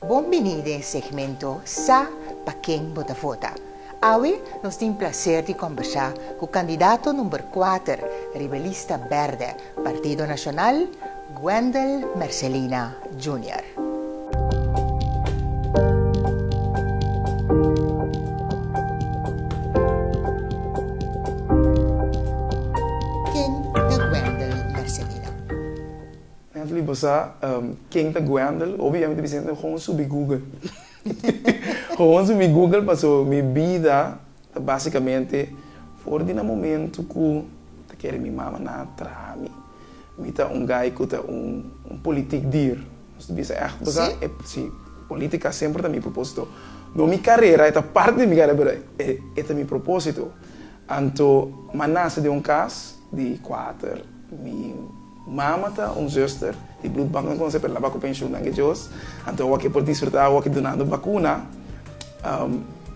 Bon bini den e segmento Sa pa ken bo ta vota. Awe nos tin plaser di kombersá ku kandidato number kuater riba e lista bèrdè Partido Nashonal, Wendel Mercelina Junior. Ken ta Wendel Mercelina? Nan ta liba sa ken ta Gwendel. Hopi ya mi ta bisa gente hoon subi Google. Hoon subi Google paso mi bida ta basicamente for di nan momento cu ta kere mi mama na traha mi. Mi ta un guy cu ta un politic dier. Nos ta bisa echt paso si, politica semper ta mi proposito. No mi carera, e ta parti di mi carera pero e ta mi proposito. Anto ma nase den un cas di cuater. Un mama ta un zuster di bloedbank nos konsé pa e laba ku penshun nan gejos. Anto awa ke por disfrutá awa ke dunando bakuna.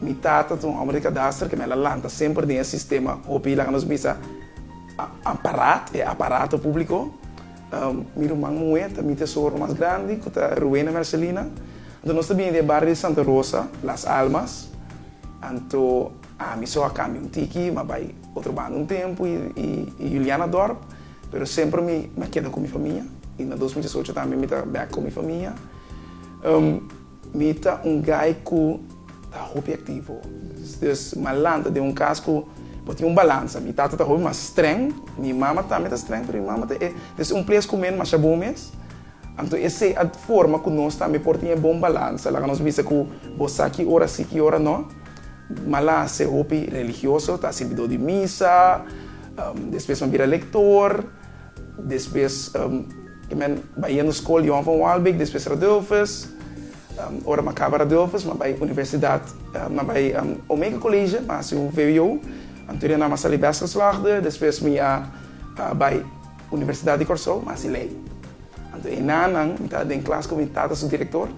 Mi tata ta un hòmber di kadaster ke mi a la lanta semper den e sistema. Hopi laga nos bisa amparat, e aparato públiko. Mi ruman muhé ta mi tesoro mas grandi ku ta Ruena Mercelina. Anto nos ta bini di e bario di Santa Rosa, Las Almas. Anto ami so a kambia un tiki, mi a bai otro banda un tempu i Julianadorp. Pero semper mi na keda ku mi famia i na dos mil diesocho tambe mi ta bek ku mi famia. Mi ta un gai ku ta hopi aktivo. Des malanta den un kas ku bo tin un balansa. Mi tata ta hopi mas streng, mi mama tambe ta streng, pero mi mama ta e des un ples ku mi masha bon mes. Anto esei a forma ku nos tambe por tin e bon balansa. Laga nos bisa ku bo sa ki ora si, ki ora no. Malase hopi religioso ta sirbidó di misa, despues nan bira lektor, despues e men bai yendo skol Johan van Waalbeek, despues Radulfus, ora nan kaba Radulfus nan bai universidat, nan bai Omega College, nan hasi un vwo, anto nan a sali best geslaagde, despues mi a bai Universidat di Kòrsou, mi a hasi lei. Anto e na nan mi ta den klas ku mi tata su direktor.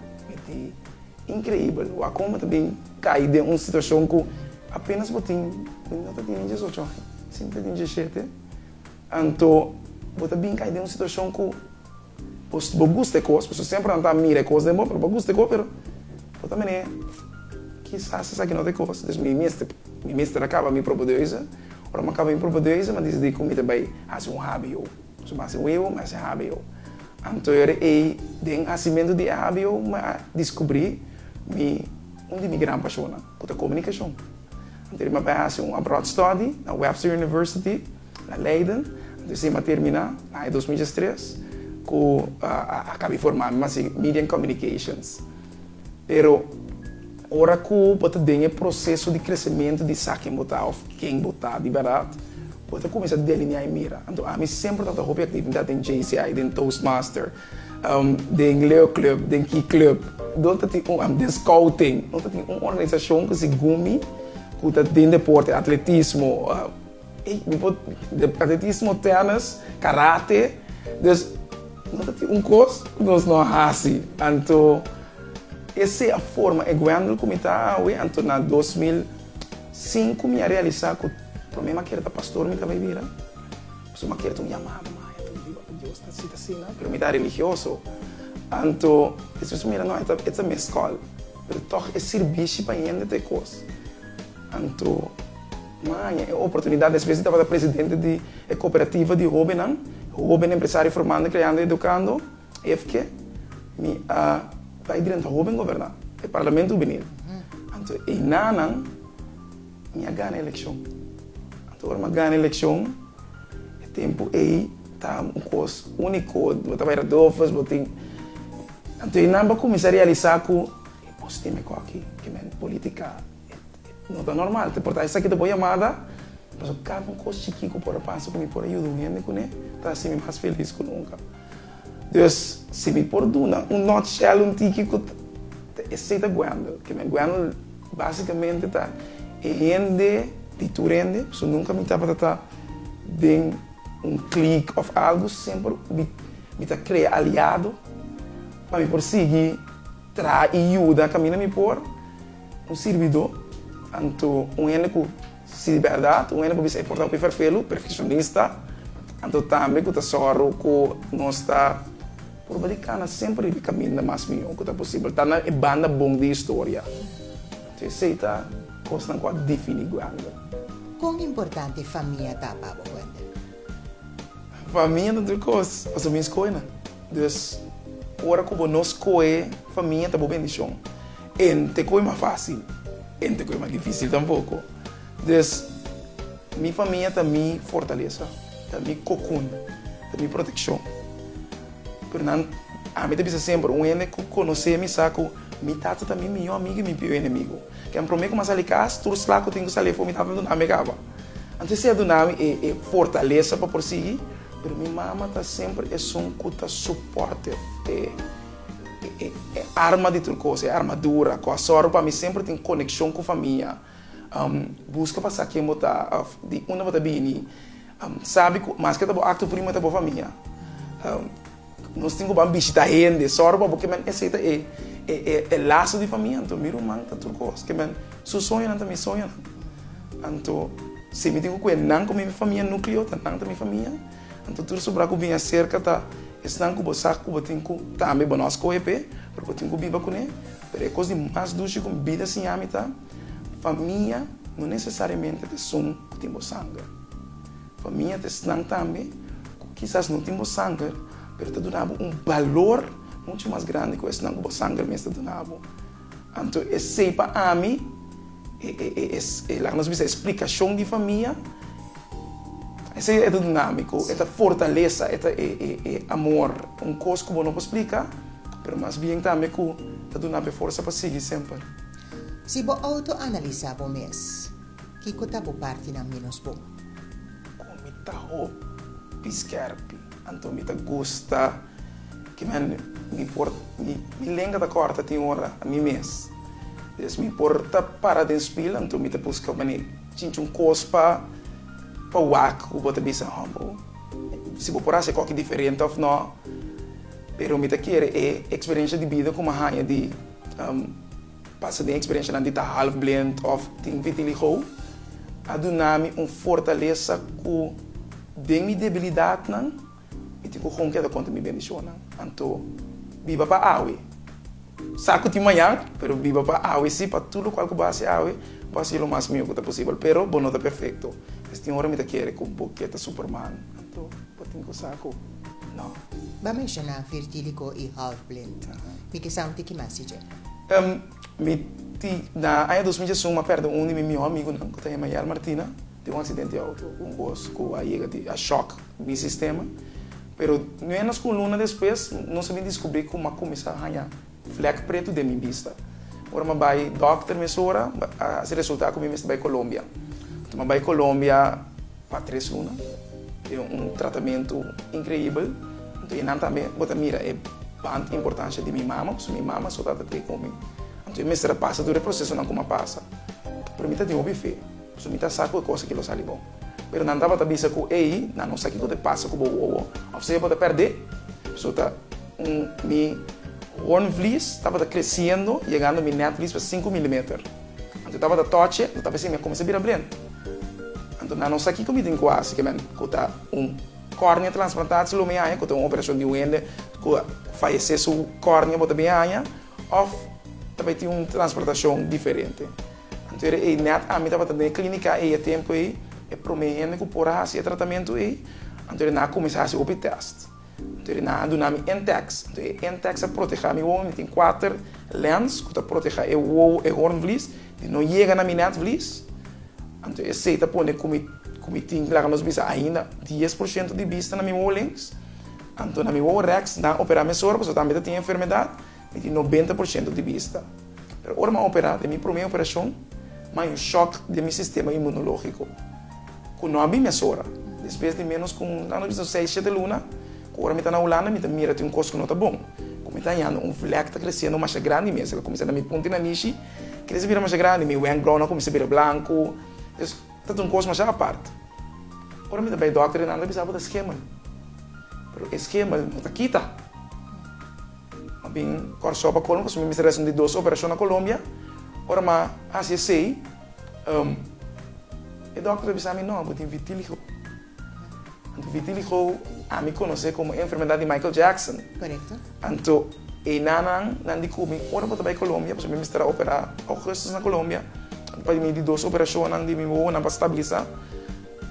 Increíbel! Wacom bo ta bin cay den un situacion cu apenas bo tin, bo no ta tin ni diesocho aña, si bo ta tin diesiete, anto bo ta bin cay den un situacion cu bo bo gusta e cos, pasobra semper nan ta mira e cos den bo, pero bo gusta e cos, pero bo ta mene, kisas esaki no ta e cos, dus mi mester, mi mester a caba mi propio de huize, ora mi a caba mi propio de huize, mi a decidi cu mi ta bay haci un hobby o. Su base webo ma es e hbo. Anto yo re'é den hacimentu di e hbo mi a discubrí mi un di mi gran pasionnan, cu ta comunicacion. Anto esei mi a bai haci un abroad study na Webster University, na Leiden. Anto esei mi a terminá na aña dos mil diestres cu a cab'é formá mi ma si Media and Communications. Pero ora ku bo ta den e proseso di kresementu di sa ken bo ta òf ken bo ta di bèrdat, bo ta kuminsá deliniá i mira. Anto ami semper tabata hopi aktividat den JCI, den Toastmaster, den leuklup, den kiklup, den skouting. No ta tin un organisashon ku segun mi ku ta den deporte, atletismo, Bo por atletismo, tennis, karate, dus no ta tin un kos ku nos no a hasi. Anto e sea forma e guendel ku mi ta awe, anto na dos mil sinku mi a realisá ku pa mi mi a kere ta pastor mi tabata bira, pasobra mi a kere ta un yamada maya, ta biba ku Dios ta sita asina, pero mi ta religioso. Anto e siñor ta mira, no, e ta mi skòl, pero tòg e sirbishi pa hende ta e kos. Anto. Na aña e oportunidad despues di tabata presidente di e cooperativa di hobennan, Hoben Empresario Formando, Creando y Educando, HEFCE, mi a bay drenta hoben goberna e parlamento hubenil. Anto eyna nan mi a gana eleccion. Anto ora mi a gana eleccion e tempo ey ta un cos unico, bo ta bay ra Doffers, bo tin, anto eynan bo a cuminsa realiza cu e bo stima e coki, kimen politica. No ta normal. Te porta esaki ta bo yamada. Paso kada un kos chikí ku por a pasa ku mi por a yuda un hende kuné ta hasi mi mas felis ku nunka. Dus si mi por duna un notshell un tiki ku ta esei ta Gwendel. Kende Gwendel basikamente ta e hende di tur hende. Paso nunka mi tabata ta den un klik òf algu. Semper mi ta krea aliado pa mi por sigui traha i yuda kaminda mi por. Un sirbidó, anto un hende ku si bèrdat, un hende ku bisa e porta hopi ferfelu, perfekshonista, anto tambe ku ta sòru ku nos ta purba di kana semper riba e kaminda mas mihó ku ta posibel, ta na e banda bon di historia. So esei ta kosnan ku a difiní Gwendel. Kon importante famia ta pa bo, Gwendel? Famia ta tur kos, pasobra mi skohe nan. Dus, ora ku bo no skohe famia ta bo bendishon. Ente koe mas fácil, ente koe mas difícil tampoco. Des, mi famia ta mi fortalesa, ta mi kokun, ta mi proteccion. Pero nan, ami ta bisa semper, un hende ku konosé mi sa ku mi tata ta mi mihó amigu i mi pió enemigu. Ken promé ku mi a sali kas, tur sla ku tin ku sali afó mi tata a duna ami kaba. Anto esei a duna mi e e fortalesa pa por sigui, pero mi mama ta semper esun ku ta sopòrter. E arma di tur kos, e armadura ku a sòru pa mi semper tin konekshon ku famia. Buska pa sa ken bo ta òf di unda bo ta bini. Sabi ku maske ta bo aktu primo e ta bo famia. Nos tin ku ban bishita hende, sòru pa bo kimin e seta e laso di famia. Anto mi ruman ta tur kos. Kimin su soñonan ta mi soñonan. Anto si mi tin ku kue nan ku mi famia nukleo ta nan ta mi famia. Anto tur sobrá ku bin aserka ta esnan ku bo sa ku bo tin ku tambe bo no skohe p'e, pero bo tin ku biba kuné. Pero e kos di mas dushi ku mi bida siña mi ta, famia no nesesariamente ta esun ku tin bo sanger. Famia ta esnan tambe ku kisas no tin bo sanger, pero ta duna bo un balor muchu mas grandi ku esnan ku bo sanger mes ta duna bo. Anto esey pa ami e laga nos bisa e splikashon di famia. Esey e ta dunami ku e ta fortalesa, e ta e amor, un kos ku bo no por splika, pero mas bien tambe ku ta duna bo e forsa pa sigui semper. Si bo outo-analisá bo mes, kiko ta bo partinan ménos bon? Kon mi ta hopi skèrpi, anto mi ta gusta. Ki men mi por mi lenga ta corta tin ora mi mes des mi por ta para den spil anto mi ta busca mane chinchun cos pa pa wak cu bo ta bisa humble si bo por haci coki diferente of no pero mi ta kere e experiencia di bida cu mi a haya di pasa den experiencianan di ta half blind of tin vitiligo a dunami un fortalesa cu den mi debilidadnan. Mi tin ku honger ta konta mi bendishonnan, anto biba pa awe. Sa ku tin mañan, pero biba pa awe si, pa tur lokual ku bo a hasi awe, bo hasi lo mas miu ku ta posibel. Pero bo no ta perfekto. Pues tin ora mi ta kere ku bo keta superman, anto bo tin ku sa ku no. Bo a menshoná virgílico i halfblin. Mi kisa un tiki mas di dje. Mi tin, na aña dos mil dies un, mi a pèrdè un di mi mihó amigunan, ku ta yama Yael Martina. Tin un accidente auto cu un bus cu a yega tin a shock mi sistema pero menos cu un luna despues nos a bin descubri cu m'a cuminsa a haña vlek preto den mi bista. Ora m'a bay doctor mesora a haci resulta cu mi mester bay Colombia. Enton m'a bay Colombia pa tres luna den un tratamento increibel enton enan tambe bo ta mira e band importancia di mi mama pasobra mi mama so ta ta tin cu mi enton e mester a pasa tur e procesonan cu m'a pasa pero mi ta tin hopi fe. So mi ta sa ku e kos aki lo sali bon. Pero nan tabata bisa ku, Ei, nan no sa kiko ta pasa ku bo wowo, òf se e bo ta pèrdé. So ta un mi hoornvlies tabata kresiendo yegando mi netvlies pa sinku milimeter. Anto e tabata tòche, lo tabesei mi a kuminsá bira brent. Anto nan no sa kiko mi tin ku hasi ke men ku ta un kòrnia transplantasi lo mi haña, ku ta un operashon di un hende ku a fayesé su kòrnia bo ta bin haña, òf ta bai tin un transportashon diferente. Anto era ei nèt ami tabata den e klínika ei e tempu ei, e promé hende ku por a hasi e tratamentu ei. Anto ri nan a kuminsá hasi hopi tèst. Anto ri nan a duna mi intèks. Anto e intèks a protehá mi wowo. Mi tin kuater lèns ku ta protehá e wowo, e hornvlies, di no yega na mi nètvlies. Anto esei ta pone ku mi ku mi tin, laga nos bisa ainda, dies por shento di bista na mi wowolengs. Anto na mi woworèks nan a operá mesora pasobra tambe ta tin e enfermedat. Mi tin nobenta por shento di bista. Pero ora mi a operá, den mi promé operashon, mi a un shòk den mi sistema inmunológiko, ku no a bin mesora. Despues di ménos ku un anu bista, seis, shete luna, ku ora mi ta na Hulanda, mi ta mira tin un kos ku no ta bon. Ku mi ta hañando, un vlek ta kresiendo masha grandi mes. El a kuminsá na mi punti na mishi, krese bira masha grandi. Mi wènkbrou nan a kuminsá bira blanku. Ta tin un kos masha apart. Ora mi ta bay dokter e nan ta bisa bo ta schemel. Pero e schemel no ta kita. Mas bien Kòrsou pa colmo pasobra mi mester haci un di dos operacion na Colombia. Ora mi a haci esey e dokter ta bisa mi no, bo tin vitiligo. Anto vitiligo a mi conoce como e enfermedad di Michael Jackson. Correcto. Anto e nanan nan di Cumi ora bo ta bay Colombia, pasobra mi mester a opera Augustus na Colombia, pa di mi di dos operacionnan di mi wowonan pa stabilisa.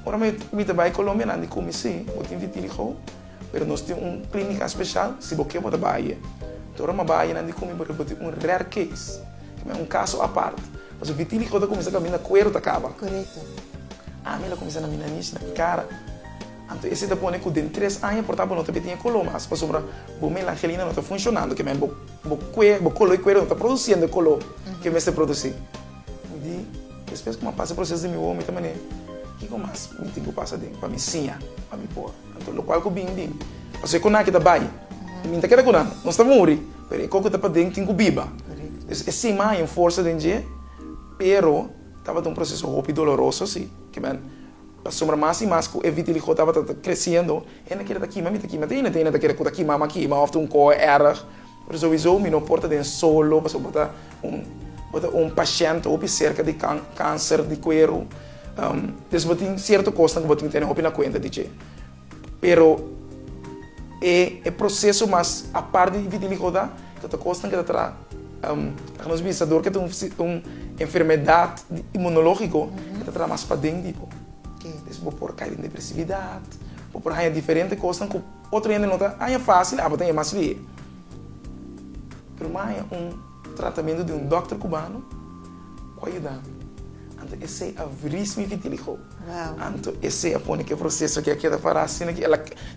Ora mi ta bay Colombia nan di Cumi si, bo tin vitiligo. Pero nos tin un klínika speshal si bo ke bo ta bai e. Tur e mabayenan di kumi bo ta boti un rare case, ki mai un kaso apart, pasobra vitíligo ta kuminsá kaminda kueru ta kaba. Korekto. Ami lo kuminsá na mi nariz, na mi kara. Anto ese ta pone ku den tres aña por ta bo no ta bitiña kolo mas, pasobra bo melangelina no ta funshonando, ke mai bo bo kolo di kueru no ta produsiendo e kolo ke mester produsí. Mi di, despues ku mi a pasa e proseso di mi wowo, mi ta manera, kiko mas mi tin ku pasa den pa mi siña pa mi por? Anto locual cu bin bin. Paso e conaki ta bay. Y bin ta keda cu nan. Nos ta muri. Pero e coco ta paden tin cu biba. Pues e sima hay un forsa den dje. Pero tabata un proceso hopi doloroso si. Kiben. Pasobra mas y mas cu e vitiligo tabata ta creciendo. Hende keda ta kima mi ta kima. Te hende te hende ta keda cu ta kima ma kima of ta un coho erg. Pero sowiso mi no por ta den solo. Paso bo ta un bo ta un pashent hopi cerca di can cancer di cuero. Pues bo tin cierto cosnan cu bo tin tene hopi na cuenta di dje. Pero e proceso mas apart di vitiligo ta ta cosnan cu ta traha ca nos bisa dor cu ta un enfermedad inmunologico cu ta traha mas paden di bo. Pues bo por cay den depresividad, bo por haya diferente cosnan cu otro hende no ta haya facil, abo ta e mas lie. Pero m'a haya un. Tratamentu di un dòkter kubano ku a yuda mi. Anto esei a vris mi vitiligo. Anto esei a pone ki e proseso aki a keda pará asina ki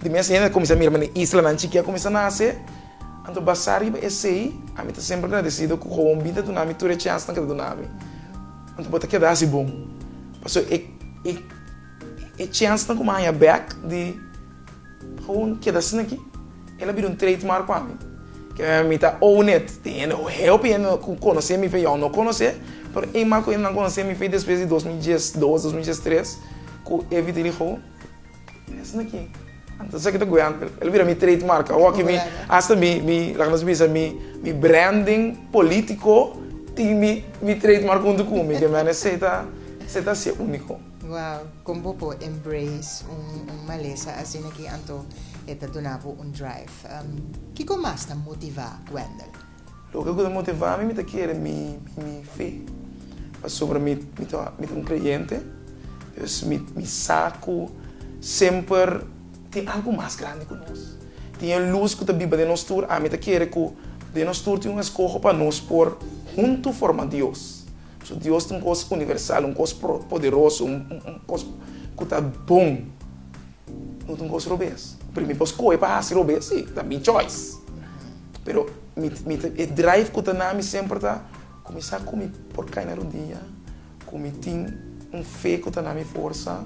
di mes hende a kuminsá mira mi na islanan chikí a kuminsá nase. Anto basá riba esei ami ta semper agradesido ku Howon Bita duna mi tur e chènsnan ku e ta duna mi. Anto bo ta keda hasi bon. Pasobra e chènsnan ku mi a haña bèk di. Gewoon keda asina aki. El a bira un trade mark pa mi. Mi ta own it. Tin hende, heo p'e hende ku konos'é mi fe yao no konos'é, pero e man ku hende nan konos'é mi fe despues di dos mil dies dos, dos mil dies tres ku e bita di gewoon e asina aki. Anto esaki ta guea anto. El a bira mi trade mark. Awor aki mi hasta mi mi laga nos bisa mi mi branding politico tin mi mi trade mark huntu ku mi. Ke mi a ne esei ta esei ta hacia unico. Wow, kon bo por embrace un malesa asina ki anto e ta duna bo un drive? Kiko mas ta motivá Wendell? Loke ku ta motivá mi, mi ta kere mi fe, pasobra mi ta un kreyente. Pues mi sa ku semper tin algu mas grandi ku nos. Tin e lus ku ta biba den nos tur. Ami ta kere ku den nos tur tin un eskoho pa nos por huntu forma Dios. Su Dios ta un kos universal, un kos poderoso, un kos ku ta bon. No ta un kos robes. Pero mi por skohe pa hasi robes? Sí, ta mi choice. Pero e drive ku ta na mi semper ta, Kuminsá ku mi por kai na rodia, ku mi tin un fe ku ta na mi forsa,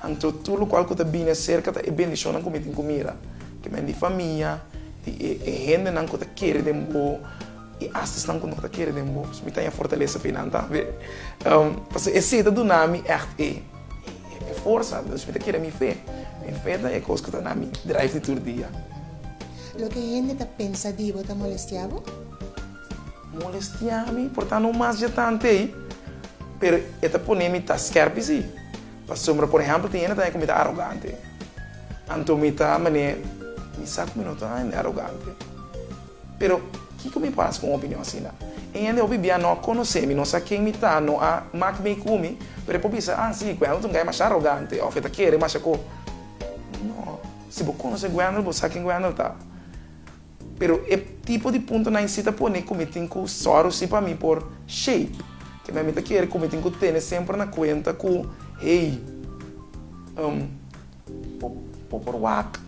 anto tur lokual ku ta bini aserka ta e bendishonnan ku mi tin ku mira. Kimen di famia, di e hendenan ku ta kere den bo. E asesnan ku no ta kere den bo, mi ta ña fortalesa p'e nan tambe. Pasobra esei ta duna mi ègt e forsa, dus mi ta kere mi fe. Mi fe ta e kos ku ta na mi drive di tur dia. Loke hende ta pensa di bo ta molestia bo? Molestia mi por ta no mas jetante ei, pero e ta pone mi ta skèrpi si. Pasobra, por ehèmpel, tin hende ta haña ku mi ta arogante. Anto mi ta manera, mi sa ku mi no ta hende arogante. Pero kiko mi por hasi ku un opinion asina? E hende hopi bia no a konosé mi, no sa ken mi ta, no a mak mei ku mi, pero e por bisa, Ah sí, Guendelton ta mashá arogante òf e ta kere masha ko. No, si bo konosé Guendel, bo sa ken Guendel ta. Pero e tipo di puntonan sí ta pone ku mi tin ku sòru si pa mi por shape. Kende na mi ta kere ku mi tin ku tene semper na kuenta ku, hey, um. Bo por wak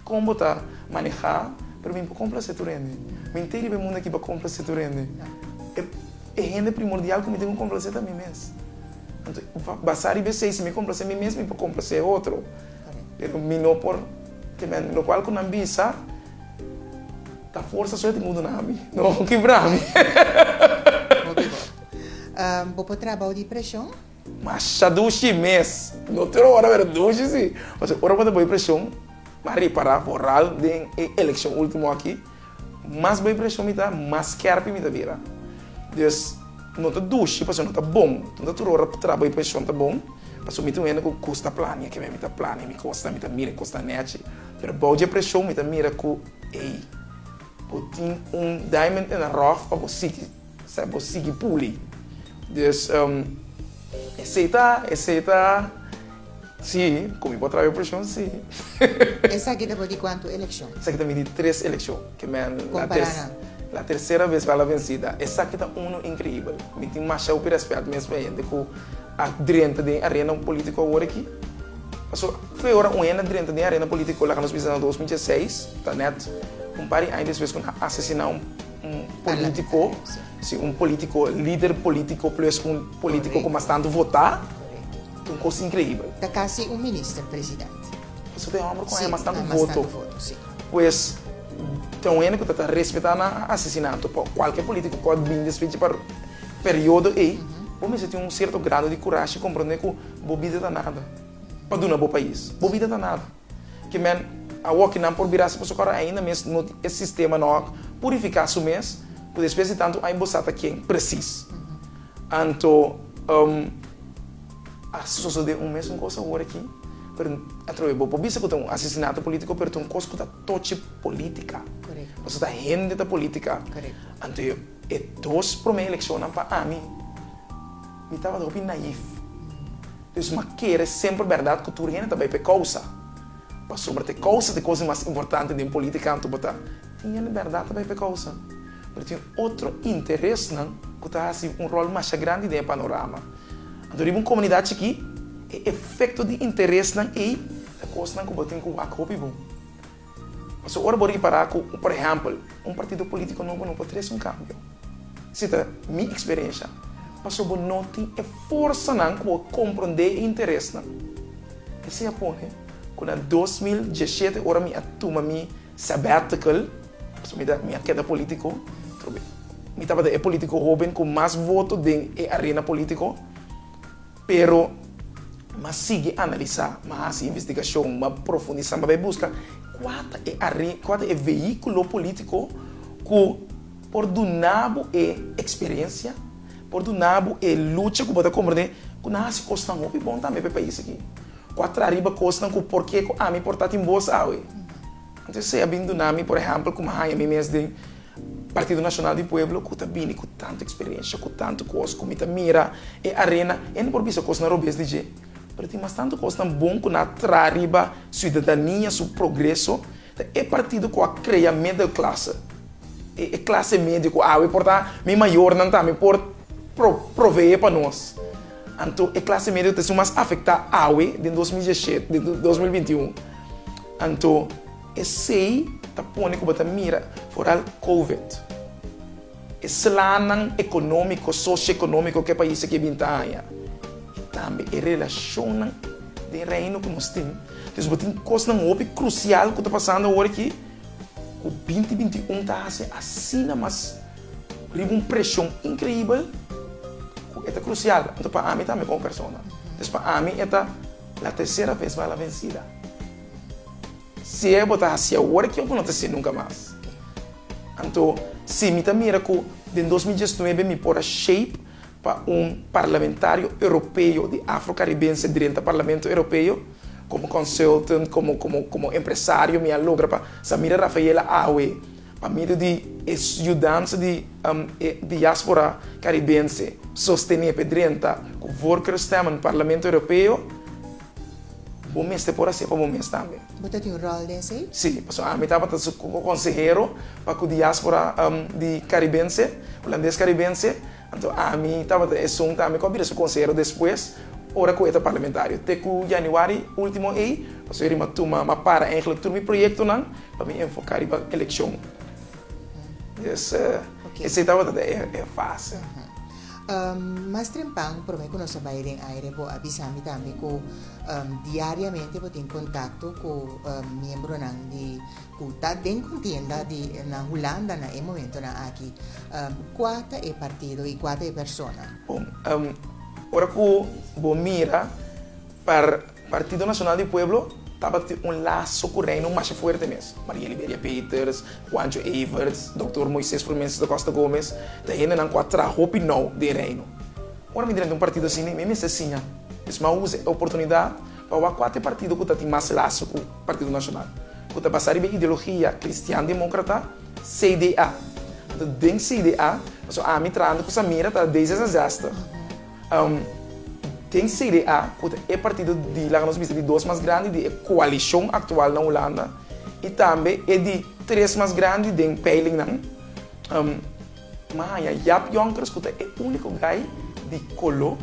kon bo ta maneha, pero mi por complase tur hende. Mi nte riba e mundo aki pa complase tur hende. E hende primordial cu mi tin cu complase ta mi mes. Anto basa riba esey, si mi complase mi mes mi por complase e otro. Pero mi no por kemia locual cu nan bisa ta forsa so e tin cu duna ami, no kibra ami. Oke bo. Bo por trabao di presion? Masha dushi mes. No tur ora pero dushi si. Pasobra ora bo ta bay presion pa repara foral den e eleccion ultimo aki, mas bay presion mi ta, mas skerpi mi ta bira. Dus no ta dushi pasobra no ta bon. No ta tur ora tra bay presion ta bon. Pasobra mi ta un hende ku kusta plania kibe. Mi ta plania mi kosnan, mi ta mira e kosnan nechi. Pero bou dje presion mi ta mira ku, ey, bo tin un diamond in the rough pa bo sigui. Sa bo sigui puli. Dus esey ta esey ta si con mi por traba e presión si. Esaki ta for di cuantu eleccion? Esaki ta for di tres eleccion ke men la tercera vez bala vencida. Esaki ta uno increibel. Mi tin mashau pi respet mes pa e hende cu a drenta den arena politico awor aki. Paso fe ora un hende a drenta den arena politico laga nos bisa na dos mil dieseis ta net un par di aña despues cu nan a asesina un. Un politico, si un politico, lider politico plus un politico cu mas tanto vota, un cos increibel. Ta casi un minister president. Pasobra ta e homber cu haya mas tanto voto. Pues, ta un hende cu ta ta respeta na asesinato. Pa cualkier politico cu a bin despues dje periodo ey, bo mester tin un cierto grado di curashi y comprende cu bo bida ta nada pa duna bo pais. Bo bida ta nada. Ki men awo ki nan por birase pa su kor ainda mes no tin e sistema no a purifica su mes cu despues di tanto ai bo sa ta ken precis. Anto a sosode un mes un cos awor aki pero atrobe bo por bisa cu ta un asesinato politico pero ta un cos cu ta tochi politica pasobra hende ta politica anto. E dos prome elekshonnan pa ami, mi tabata hopi naif. Pues mi a kere semper bèrdat ku tur hende ta bai pa e kousa. Pasobra ta e kousa ta e kos mas importante den polítika anto bo ta. Tin hende bèrdat ta bai pa e kousa, pero tin otro interesnan ku ta hasi un ròl masha grandi den e panorama. Anto riba un komunidat chikí, e efekto di interesnan ei ta kosnan ku bo tin ku wak hopi bon. Pasobra ora bo ripará ku, por ehèmpel, un partido polítiko nobo no por trese un kambio, si ta mi eksperensha, pasobra bo no tin e forsanan ku por komprondé e interesnan. Esei a pone ku na dos mil diesshete, ora mi a tuma mi sabbatical, pasobra mi a keda polítiko, mi tabata e polítiko hóben ku mas voto den e arena polítiko, Pero m'a sigui analisá, m'a hasi investigashon, m'a profundisá, m'a bai buska kua ta e are, kua ta e veíkulo polítiko ku por duna bo e eksperensia, por duna bo e lucha ku bo ta komprendé ku nan a hasi kosnan hopi bon tambe pa e pais aki, ku a traha riba kosnan ku porke ku ami por ta tin bos awe. Anto esei a bin duna mi, por ehèmpel, ku m'a haña mi mes den Partido Nacional di Pueblo cu ta bini cu tanto experiencia, cu tanto cos cu mi ta mira e arena, e no por bisa cos na robes di dje, pero tin mas tanto cosnan bon cu nan a traha riba ciudadania su progreso, ta e partido cu a crea middle classe, e clase medio cu awe por ta, mi mayornan tambe por provee pa nos, anto e clase medio ta esun mas afecta awe den dos mil dieset, den dos mil binti un, anto. Esei ta pone ku bo ta mira foral Covid, e slanan ekonómiko, sosioekonómiko ku e pais aki a bin ta haña i tambe e relashonnan den Reino ku nos tin. Entonces bo tin kosnan hopi krusial ku ta pasando awor aki ku binti binti i un ta hasi asina mas riba un preshon inkreibel ku e ta krusial. Entonces pa ami tambe komo persona, entonces pa ami e ta la tersera ves bala vensida. Si e bo ta hasi awor ki oco no ta si nunca mas. Anto si mi ta mira cu den dos mil diesnuebe mi por a shape pa un parlamentario Europeo di Afro Caribense drenta Parlamento Europeo como consultant como como como empresario mi a logra pa Samira Rafaela awe pa medio di e yudansa di e diaspora Caribense sostene pe drenta cu voorkeurstemmen Parlamento Europeo Bo mester por hasié pa bo mes tambe. Bo ta tin un ròl den esei? Sí, pasobra ami tabata su konsehero pa ku diáspora di karibense, hulandes-karibense, anto ami tabata esun tambe ku a bira su konsehero despues ora ku e ta parlamentario. Te ku yanüari último ei, pasobra ri m'a tuma, m'a para èinklik tur mi proyektonan pa mi enfoká riba elekshon. Des, esei tabata e fase. Mas trempan, prome ku nos a bai den aire bo a bisa mi tambe ku diariamente bo tin kontakto ku miembronan di ku ta den kontienda di na Hulanda na e momentonan aki. Kua ta e partido i kua ta e persona? Bon, ora ku bo mira par. Partido Nacional di Pueblo tabata un laso cu Reino masha fuerte mes. Maria Liberia Peters, Juancho Everts, Doctor Moises Frumens da Costa Gomez ta hendenan cu a traha hopi nou den Reino. Ora mi drenta un partido asina mi mester siña es ma usa e oportunidad pa wak cua ta e partido cu ta tin mas laso cu Partido Nacional, cu ta basa riba e ideologia cristian democrata, CDA. Anto den CDA, pasobra ami trahando cu Samira ta D66. Den CDA, ku ta e partido di, laga nos bisa, di dos mas grandi di e koalishon aktual na Hulanda i tambe e di tres mas grandi den peilingnan, mi a haña Jaap Jonckers ku ta e úniko gai di koló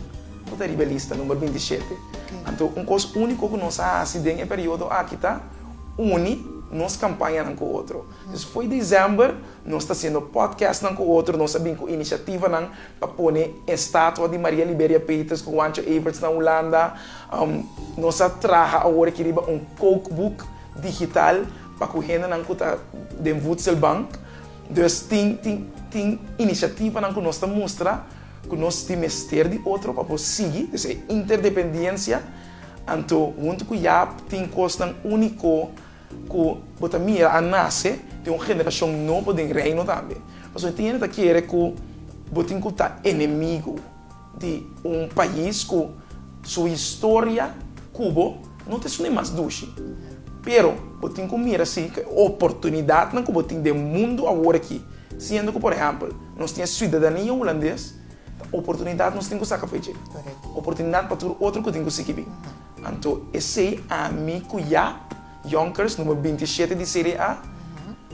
ku ta riba e lista, number binti shete. Anto un kos úniko ku nos a hasi den e periodo aki ta uni nos kampañanan ku otro. Pues foi December nos ta hasiendo podcastnan ku otro, nos a bin ku inisiativanan a pone estatua di Maria Liberia Peters cu Juancho Everts na Hulanda. Nos a traha awor aki riba un kookboek digital pa cu hendenan cu ta den Voedselbank. Dus tin tin tin iniciativanan cu nos ta mustra cu nos tin mester di otro pa por sigui. Dus e interdependiencia. Anto hunto cu Jaap tin cosnan unico. Ku bo ta mira a nase den un generashon nobo den Reino tambe. Pasobra e tiene ta kere ku bo tin ku ta enemigu di un pais ku su historia ku bo no ta esun di mas dushi. Pero bo tin ku mira si e oportunidatnan ku bo tin den mundu awor aki, siendo ku por ehèmpel nos tin e siudadania hulandes, ta oportunidat nos tin ku saka fe'e dje. Oportunidat pa tur otro ku tin ku sigi bin. Anto esei ami ku Jaap, Yonkers numero binti shete di CDA,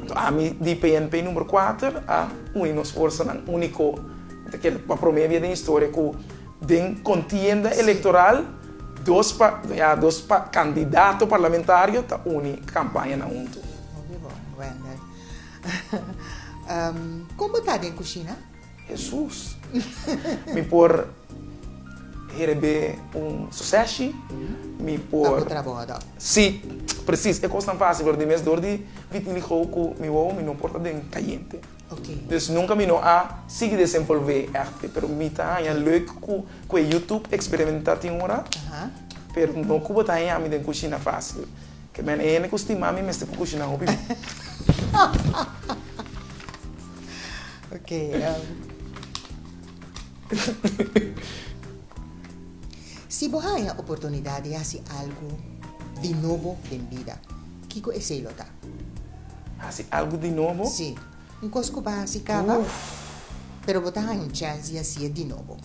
anto ami di PNP numero kuater, a uni nos forsanan úniko. Mi ta kere pa promé bia den historia ku den kontienda elektoral dos pa, ya, dos pa kandidato parlamentario ta uni kampaña nan huntu. Hopi bon, Wender. Kon bo ta den kushina? Hesus, mi por herebe un suseshi, mi por. Ta ku trabou adòp. Sí, presis. E kosnan fásil, pero di mes dor di vitiligo ku mi wou mi no por ta den kayente. Oke. Dus nunka mi no a sigui desenvolvé ègte, pero mi ta haña leuk ku ku e YouTube eksperimentá tin ora, Aha. pero no ku bo ta haña mi den kushina fásil. Ke men, e hende ku stima mi mester ku kushiná hopi. Ok, si bo haña oportunidat di hasi algu di nobo den bida, kiko esei lo ta? Hasi algu di nobo? Sí, un kos ku bo a hasi kaba, pero bo ta haña un chèns di hasi'e di nobo.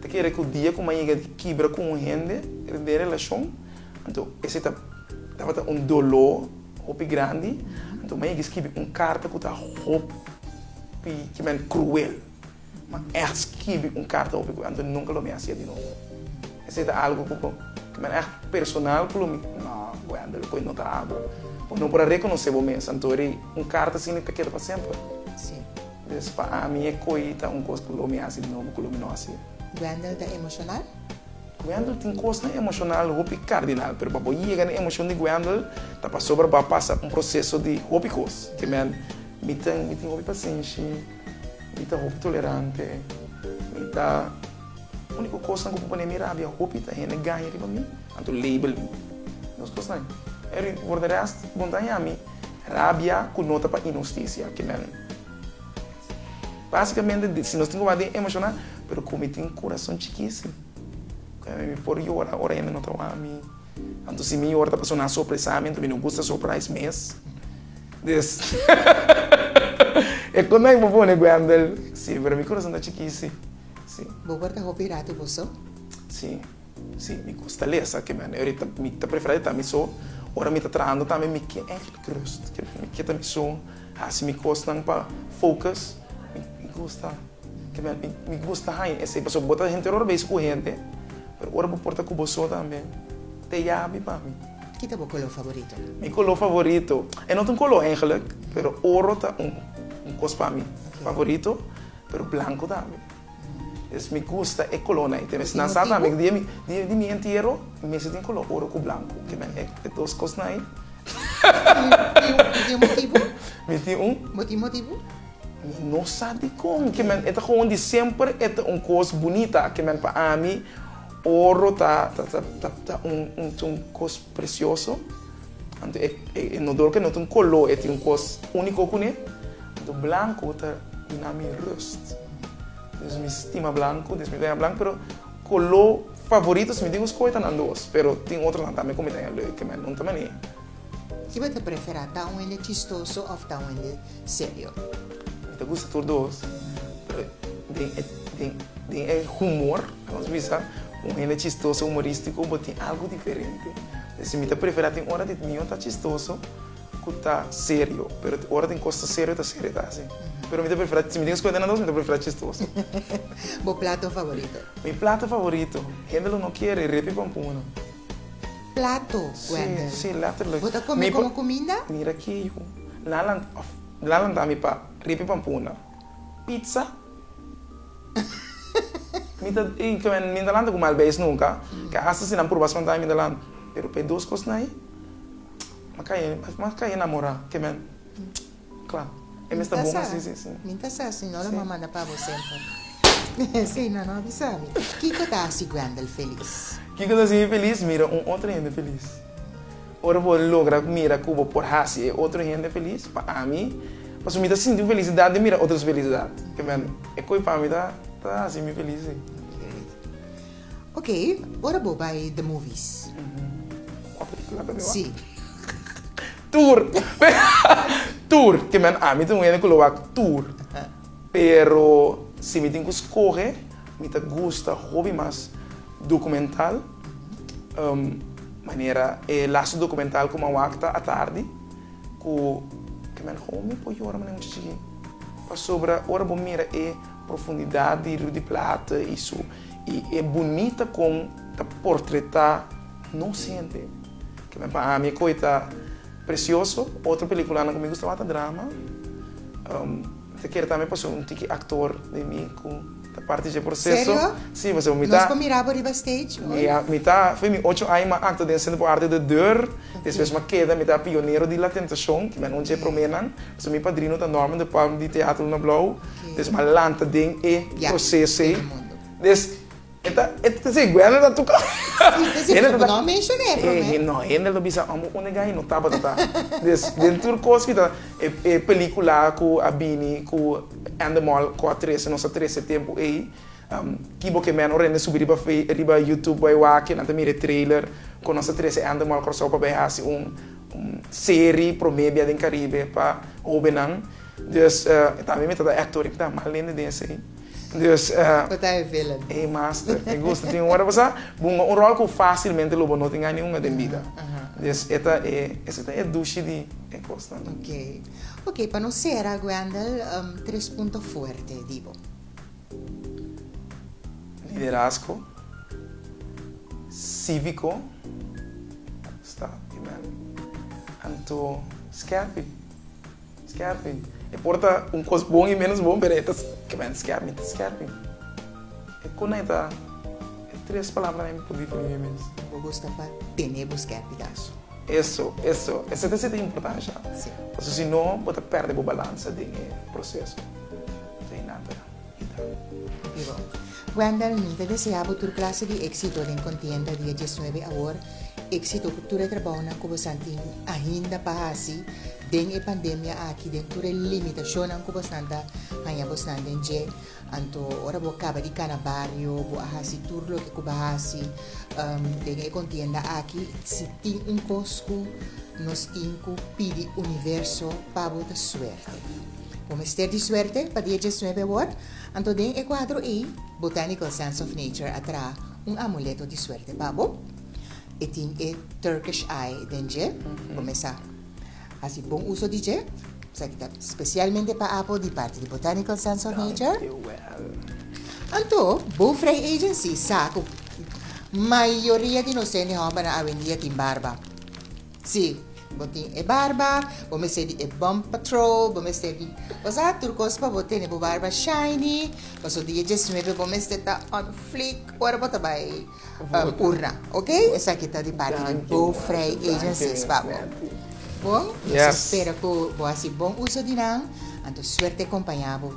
Ta kere ku dia ku m'a yega di kibra ku un hende den relashon. Anto esei tabata un doló hopi grandi. Anto mi a yega skibi un karta ku ta hopi ki men kruel. Mi a ègt skibi un karta hopi kruel, anto nunka lo mi a hasia di nobo. Esei ta algu ku kimen ègt personal ku lo mi No, Wendell, koe no ta awo. Bo no por a rekonosé bo mes, anto ri un karta asina ta keda pa semper. Sí. Des pa ami e koe ta un kos ku lo mi a hasi di nobo ku lo mi no a hasia. Wendell ta emoshoná? Wendel tin kosnan emoshonal hopi kardinal, pero pa bo yega na emoshon di Wendel ta pasobra bo a pasa un proseso di hopi kos. Tiemnan mi ta mi tin hopi pasenshi, mi ta hopi tolerante, mi ta uniko kosnan ku por pone mi rabia hopi ta hende gaña riba mi, anto label mi dos kosnan. Pero for de rest bon ta haña mi rabia ku no ta pa inhustisia, kimen. Básicamente di si nos tin ku wak den emoshoná pero ku mi tin kurason chikisi ku mi por yora ora hende no ta wak mi anto si mi yora ta pasó na sopresamentu mi no gusta surprise mes des e kon nan bo pone Wendell si pero mi kurason ta chikisi si. Bo por ta hopi ratu bo so? Si si mi gusta lesa keme ahorita mi ta preferá di ta mi so ora mi ta trahando tambe mi ke eindelijk rust keme mi ke ta mi so Hasi mi kosnan pa focus. Mi gusta kebel mi gusta haña esei pasobra bo ta henter ora bes ku henter pero ora bo por ta ku bo so tambe te yabi pa mi. Ki ta bo koló favorito? Mi koló favorito e no ta un koló eigenlik pero oro ta un kos pa mi favorito pero blanko tambe. Es mi gusta e color nan. Nan sa tambe di e di mi entiero mester tin color oro cu blanco. E dos cos nan ey. Mi tin un motivo? Mi tin un? Bo tin motivo? Mi no sa dicon. E ta gewoon di semper e ta un cos bunita. Pa ami oro ta un cos precioso. Anto e inodoro ke no tin koló, e tin un kos úniko kuné. Anto blanku ta bina mi rust. Dus mi stima blanku, dus mi ta haña blanku, pero koló favorito, si mi dibu skohe, ta nan dos. Pero tin otronan tambe ku mi ta haña leu, ke mi a nunta manera. Kiba ta preferá, ta un hende chistoso òf ta un hende? serio. Mi ta gusta tur dos, pero den e humor ta nos bisa un hende chistoso, humorístico, bo tin algo diferente. P'esei mi ta prefera tin ora di niño ta chistoso cu ta serio, pero ora tin cos ta serio, ta serio ta haci. Pero mi ta prefera, si mi tin escoge entre nan dos, mi ta prefera chistoso. Bo plato favorito? Mi plato favorito? Hende lo no kere, repi con punu. plato Wender. Sí, sí, letterlijk. Bo ta come Mi pa- como cuminda? Mira aki, hijo. Nan lan, of, nan lan ta mi pa ripi pampuna. Pizza? Mi ta, y ke men, mi no ta lanta ku malbeis nunka. Ke hasta si nan purba spanta mi, mi ta lan. Pero p'e dos kosnan ei, m'a kai, m'a kai enamorá ke men. Cla. E mes ta bon así, sí, sí. Mi ta sa, si no lo m'a manda pa bo semper. Sí, no, no a bisa mi. Kiko ta haci Grendel feliz? Kiko ta haci mi feliz? Mira un otro hende feliz. Ora bo logra mira cu bo por haci e otro hende feliz, pa ami, pasobra mi ta sinti un felicidad di mira otros felicidad. Kiben, e koe pa mi ta haci mi feliz, sí. Ok, ora bo bai the movies. Cua pelicula ta biba? Sí. Tur. Tur. Ke men ami ta un hende ku lo wak tur. Pero si mi tin ku skohe, mi ta gusta hopi mas dokumental. Manera e lastu dokumental ku mi a wak ta Atardi, ku ke men homi por yora manera muchachi chikí. Pasobra ora bo mira e profundidat di Riu di Plata i su, i e bunita kon ta portretá nos hende. Kimen pa ami e koi ta presioso. Otro peliculanan cu mi gusta wata drama. Ta kere tambe pa sur un tiki actor den mi cu ta parti dje proceso. Serio? Si, pasobra mi ta. Nos por mira bo riba stage ooit? Mi a, mi ta, fo'i mi ocho aña m'a acto den Centro por Arte de Deur. Despues m'a keda, mi ta pionero di La Tentacion, kimen un dje promenan. Pasobra mi padrino ta Norman de Palm di Teatro Luna Blauw. Despues m'a lanta den e proceso ei. Des. E ta, e ta si Guender ta tuka. Si, ta si, pero no menshona e prome. No, hende lo bisa amo un negai no tabatata. Des den tur kos kita, e pelikula ku a bini ku Endemol ku a trese nos a trese tempu ei, ki bo ke meno rende subi riba fe, riba YouTube bai wak, nan ta mira e trailer kon nos a trese Endemol Kòrsou pa bai hasi un un seri prome bia den Karibe pa hobennan. Des tambe mi tata actor i mi ta mal hende den esei. Dus Cu ta e villain? Ey master, e gusta tin un worde pasa bunga un rol cu facilmente lo bo no tin gana ningunga den bida. Dus e ta e, esey ta e dushi di e cosnan. Ok. Ok, pa nos cera Wendell, tres punto fuerte di bo? Liderazgo, civico, sta primer, anto scherpi. Skerping. E por ta un kos bon i ménos bon, pero e ta kèmènt skèp. Mi ta skerping. E kon ai ta e tres palabra ai mi por definí mi mes? Bo gusta pa tene bo skerpigaso. Eso, eso. Esei ta seta importansha. Pasobra si no bo ta pèrdè bo balansa den e proseso. Esei nan ta. Wendell, mi ta desea bo tur klase di éksito den kontienda di e diesnuebe awor. Éksito ku tur e trabounan ku bosan tin ainda pa hasi den e pandemia aki, den tur e limitashonnan ku bosnan ta haña bosnan den dje. Anto ora bo a kaba di kana bario, bo a hasi tur loke ku bo a hasi den e kontienda aki, si tin un kos ku nos tin ku pidi universo pa bo ta suerte. Bo mester di suerte pa di e diesnuebe wòrd, anto den e kuadro ei Botanical Sense of Nature a traha un amuleto di suerte pa bo. E tin e Turkish Eye den dje. Bo mes a hasi bon uso di dje, esaki ta spesialmente pa Apo di parti di Botanical Sense of Nature. Anto Bo Frei Agency sa ku mayoria di nos hende hòmbernan awendia tin barba. Sí, bo tin e barba, bo mester di e bump patrol, bo mester di usa tur cos pa bo tene bo barba shiny, paso dia diesnuebe bo mester ta on fleek ora bo ta bay urna, ok? Esaki ta di parti di Bo Vrij Agencies pa bo. Bon, nos ta spera cu bo haci bon uso di nan, anto suerte compaña bo.